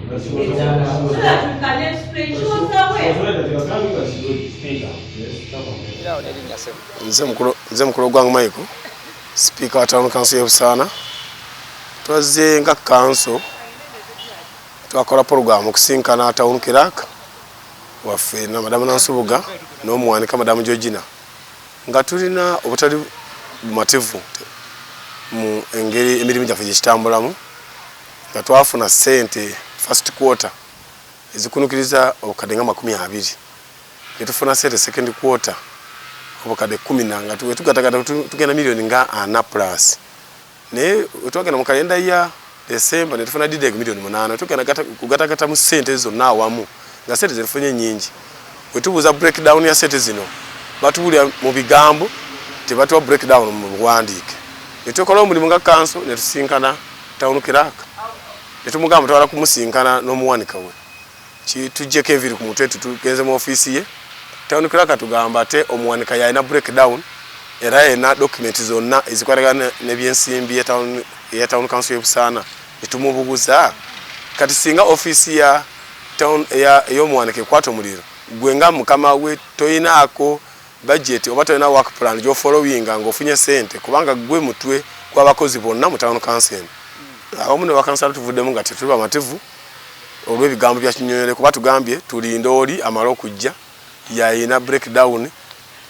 She was, she was, so that we can explain. She was aware. She was aware that they were coming, but she would speak up. Yes, nze mukulu gwange maiko sipiika wa tawuni kanso y'ebusaana twazze nga kanso twakola puroguramu okusinkana tawuni kirak waffe na madamu nansubuga n'omuwanika madamu georgina nga tulina obutali bumativu mu engeri emirimu gyaffe gyekitambulamu nga twafuna ssente first quarter ezikunukiriza obukadde nga makumi abiri ne tufuna ssente second quarter obukadde kumi na nga tugatagata tugenda miliyoni nga ana plus naye twagenda mu kalenda ya desemba ne tufuna dideg miliyoni munaana tugenda kugatagata mu ssente zonna awamu nga ssente zetufunye nyingi Wetubuuza break down ya sete zino batubulira mu bigambo tebatuwa break down mu buwandiike. Netwekola omulimu nga kanso netusinkana town clerk netumugamba twala kumusinkana nomuwanika we kitujjeko eviri ku mutwe tutugenze mu offiisi ye town clerk atugamba ate omuwanika yalina break down era yena document zonna ezikwatagana nebyensimbi ya town council y'e Busaana netumubuguza kati singa offiisi ya Town eya eyomuwanika ekwata omuliro gwe nga mukama we toyinaako budget oba toyina work plan gyofollowinga nga ofunye sente kubanga gwe mutwe gwabakozi bonna mu town council eno. Abamu ne bakansala tuvuddemu nga tetuli bamativu olwebigambo bya Kinyonyole kuba tugambye tulinde oli amale okujja yayina breakdown.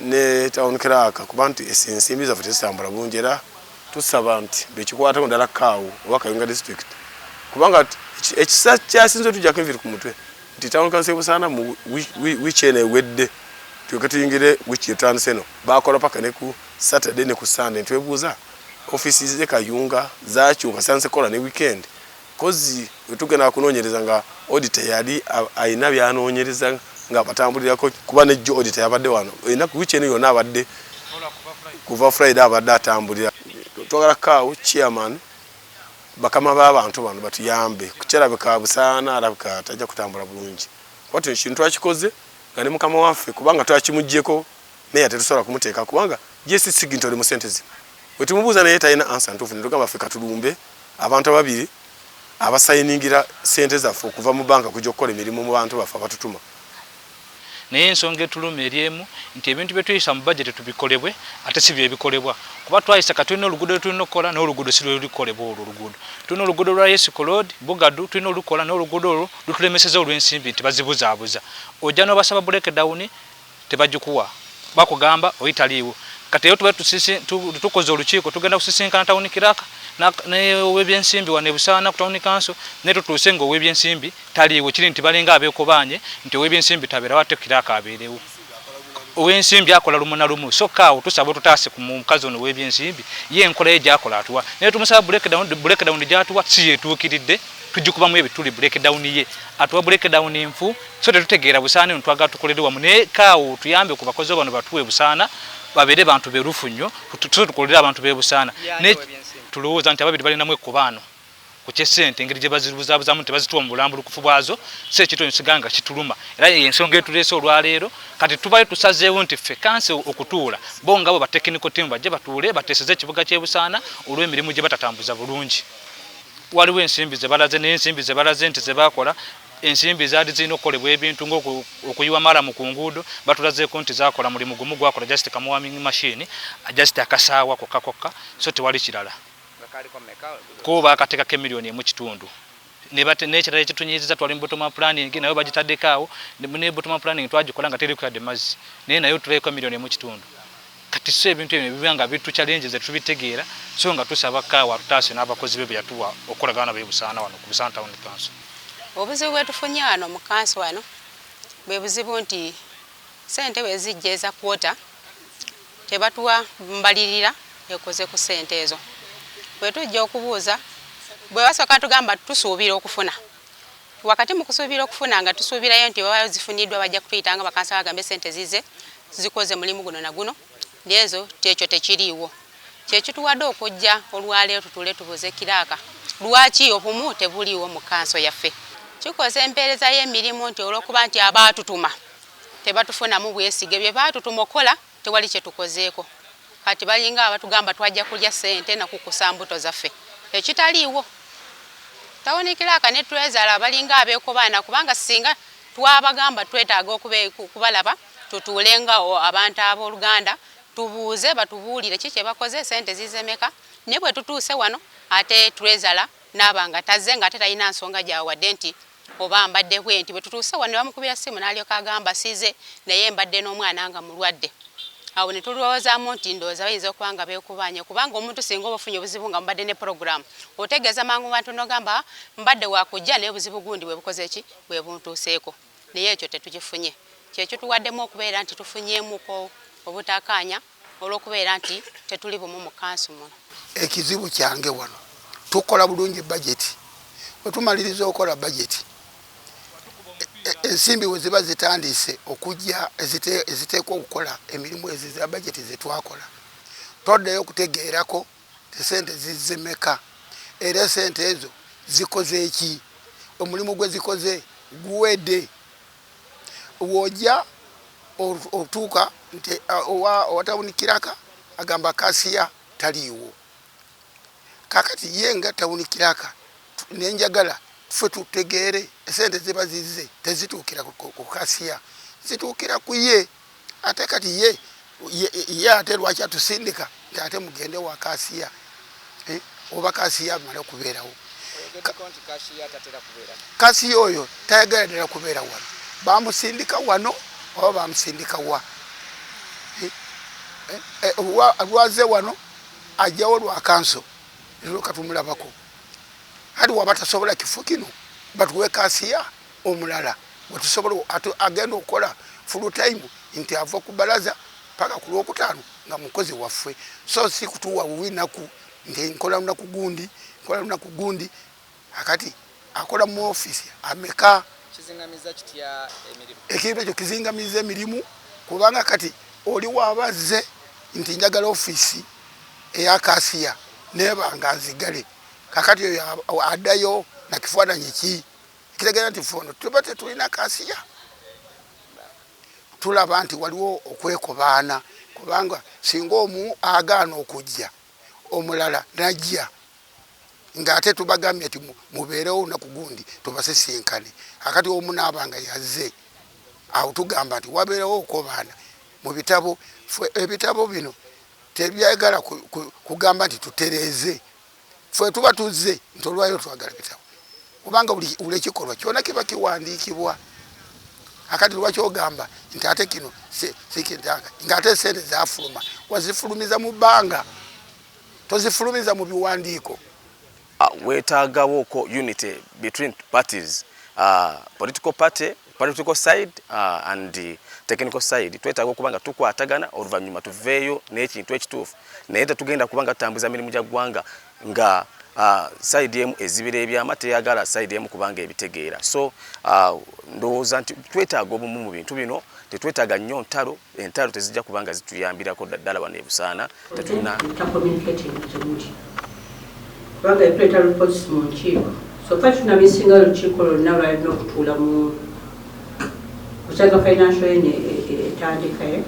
ne town clerk kuba nti ensimbi zaffe tezitambula bulungi era tusaba nti bekikwatako ddala kaawo oba kayunga district kubanga ekisa kyasinze tujjako enviri ku mutwe nti town council busaana mu wiiki eno ewedde tulyoke tuyingire wiiki etandise eno bakola paka ne ku saturday ne ku sunday ntwebuuza ofisi ze kayunga zakyuka sanse kola ne weekend Coz wetugenda akunonyereza nga auditor yali ayina byanonyereza nga abatambulirako kuba ne jo auditor yabadde wano enaku wiki eno yona abadde kuva Friday abadde atambulira twagala kawo chairman bakama ba bantu bano batuyambe kukyalabika busaana alabika tajja kutambula bulungi kuba tuno kintu twakikoze nga ne mukama waffe kubanga twakimujeko Mayor tetusobola kumuteeka kubanga JC Sigintole mu sente zino wetumubuuza naye talina ansa ntuufu netugamba ffe katulumbe abantu ababiri abasayiningira sente zaffe okuva mu banka kujja okukola emirimu mu bantu baffe abatutuma. Naye ensonga etuluma eri emu nti ebintu byetuyisa mu budget tubikolebwe ate si byebikolebwa kuba twayisa kati tulina oluguudo lwetulina okukola naye oluguudo si lwelulikolebwa olwo oluguudo tulina oluguudo lwa Yesiko Road Bugadu tulina olukola naye oluguudo olwo lutulemeseza olw'ensimbi nti bazibuzaabuza ojja n'obasaba breakdown tebagikuwa bakugamba oyi taliiwo kati eyo tuba tukoze olukiiko tugenda kusisinkana tawuni kiraka nowebyensimbi wano ebusaana ku tawuni kanso naye tutuuse nga owebyensimbi taliiwo kiri nti balinga abekobaanye nti owebyensimbi tabeerawo ate kiraka abeerewo owensimbi akola lumu na lumu sokka awo tusaba otutaase ku mukazi ono owebyensimbi ye enkola ye gyakola atuwa naye tumusaba breakdown breakdown gyatuwa si yetuukiridde tugikubamu ebituli breakdown ye atuwa breakdown nfu so tetutegeera busaana eno twagala tukolere wamu naye kaawo tuyambe ku bakozi bano batuwe busaana babeere bantu berufu nnyo tuso tukolere abantu bebusaana naye tulowooza nti ababiri balinamu ekkobaano ku kyesente engeri gye bazirubuzaabuzamu nti bazituwa mu bulambulukufu bwazo si ekintu ekyo siganga kituluma era eyo ensonga etuleese olwaleero kati tubayo tusazeewo nti ffe kansi okutuula bo nga bwe batekiniko tiimu bajje batuule bateeseze ekibuga kyebusaana olw'emirimu gye batatambuza bulungi waliwo ensimbi zebalaze naye ensimbi zebalaze nti zebakola ensimbi zaali zirina okukolebwa ebintu ngaokuyiwa malamu ku nguudo batulazeeko nti zakola mulimu gumu gwakola just kamuwaming machine just akasaawa kokka kokka so tewali kirala ko baakateekako emiliyoni emu kitundu nekirala ekitunyiziza twali mu botoma planning nayo bagitaddeko awo ne botoma planning twagikola nga terikuyadde mazzi naye nayo tuleko emiliyoni emu kitundu kati so ebintu ebyo biba nga bitu challenge ze tubitegeera so nga tusaba kaawa tutaase n'abakozi be beyatuwa okukolagana nabo ebusaana wano ku busaana town council obuzibu bwetufunye wano mu kanso wano bwe buzibu nti sente wezijja eza kwota tebatuwa mbalirira ekoze ku sente ezo bwetujja okubuuza bwe basooka tugamba tusuubira okufuna Wakati mu kusuubira okufuna nga tusuubirayo nti bwebaba zifuniddwa bajja kutuyita nga bakansala bagambe ssente zizze zikoze mulimu guno na guno naye ezo ekyo tekiriiwo. Kye kituwadde okujja olwaleero tutuule tubuuze kiraaka lwaki obumu tebuliiwo mu kkanso yaffe. Kikosa empeereza y'emirimu nti olw'okuba nti abaatutuma tebatufunamu bwesige bye baatutuma okukola tewali kyetukozeeko kati balinga abatugamba twajja kulya sente nakukusa mbuto zaffe ekitaliiwo tawuni kilaaka ne twezala balinga abekobaana kubanga singa twabagamba twetaaga okubalaba tutuule nga abantu ab'oluganda tubuuze batubuulire ki kyebakoze sente zizemeka naye bwetutuuse wano ate twezala naaba nga tazze nga ate talina nsonga gyawadde nti oba mbadde bwenti. Bwe tutuuse wano ne bamukubira ssimu n'alyoka agamba size naye mbadde n'omwana nga mulwadde. Awo ne tulwowoozaamu nti ndowooza bayinza okuba nga beekubaanye kubanga omuntu singa oba ofunye obuzibu nga mubadde ne pulogulaamu otegeeza mangu mu bantu n'ogamba mbadde wa kujja naye obuzibu gundi bwe bukoze ki bwe buntuuseeko naye ekyo tetukifunye kye kituwaddemu okubeera nti tufunyeemuko obutakaanya. olw'okubeera nti tetuli bumu mu kansu muno. Ekizibu kyange wano tukola bulungi bajeti, bwe tumaliriza okukola bajeti ensimbi we ziba zitandise okujja eziteekwa okukola emirimu ezo za bajeti ze twakola toddayo okutegeerako esente zizze meka era esente ezo zikoze ki omulimu gwe zikoze guwedde. Wojja otuuka nti owa owa town kiraka agamba kasiya taliiwo kakati ye nga town kiraka nenjagala ffe tutegeere esente ziba zizze tezituukira ku kasiya zituukira kuye. Ate kati ye ye ate lwaki atusindika nti ate mugende wa kasiya eh, oba kasiya amala kubeerawo kasiya oyo tayagala ddala kubeera wano bamusindika wano oba bamusindika wa eh, eh, eh, lwaze wano ajjawo lwa kanso lero katumulabako hati waba tasobola kifo kino batuwe kasiya omulala gwetusobola ate agenda okukola full time nti ava ku balaza paka ku lwokutaano nga mukozi waffe so si kutuwa bubi naku nti nkola lunaku gundi nkola lunaku gundi akati akola mu office ameka ekintu ekyo kizingamiza emirimu kubanga kati oli wabazze nti njagala office eya kasiya nebanga nzigale kakati oyo adayo na kifaananyi ki ekitegeera nti fe ono tuba tetulina kasiya tulaba nti waliwo okwekobaana kubanga singa omu agaana okujja omulala najja ngaate tubagambye nti mubeerewo olunaku gundi tubasisinkane akati omu naaba nga yazze awo tugamba nti wabeerewo okobaana mu bitabo ebitabo bino tebyagala kugamba nti tutereeze ffe tuba tuzze nti olwaliro twagala bitabo kubanga buli ekikolwa kyona kiba kiwandiikibwa akati lwaki ogamba nti ate kino sikintanga nga ate esente zafuluma wazifulumiza mu bbanga tozifulumiza mu biwandiiko ah, wetaagawoko unity between parties uh, political party political side uh, and technical side twetaaga okuba nga tukwatagana oluvannyuma tuveeyo n'ekintu ekituufu naye tetugenda kuba nga tutambuza mirimu gya ggwanga nga uh, side emu ezibira ebyama teyagala side emu kubanga ebitegeera so uh, ndowooza nti twetaaga obumu mu bintu bino tetwetaaga nnyo ntalo entalo tezijja kuba nga zituyambirako ddala wano ebusaana tetulina kubanga ekuleeta lupozisi mu nkiiko soka kino bisinga olukiiko lwonna lwalina okutuula mu kusaga financial ene etandikaye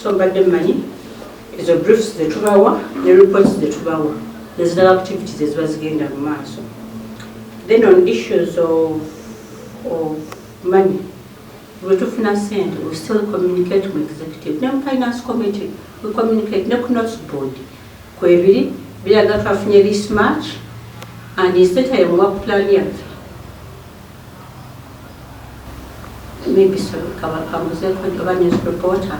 so mbadde mmanyi ezo briefs zetubawa ne reports zetubawa nezirala activities eziba zigenda mu maaso then on issues of, of money Bwetufuna sente we still communicate mu executive ne mu finance committee we communicate ne ku notes board kwebiri biraga twafunye this much and instead ya muwa plan yaffe maybe so kaba kamuze ko oba news reporter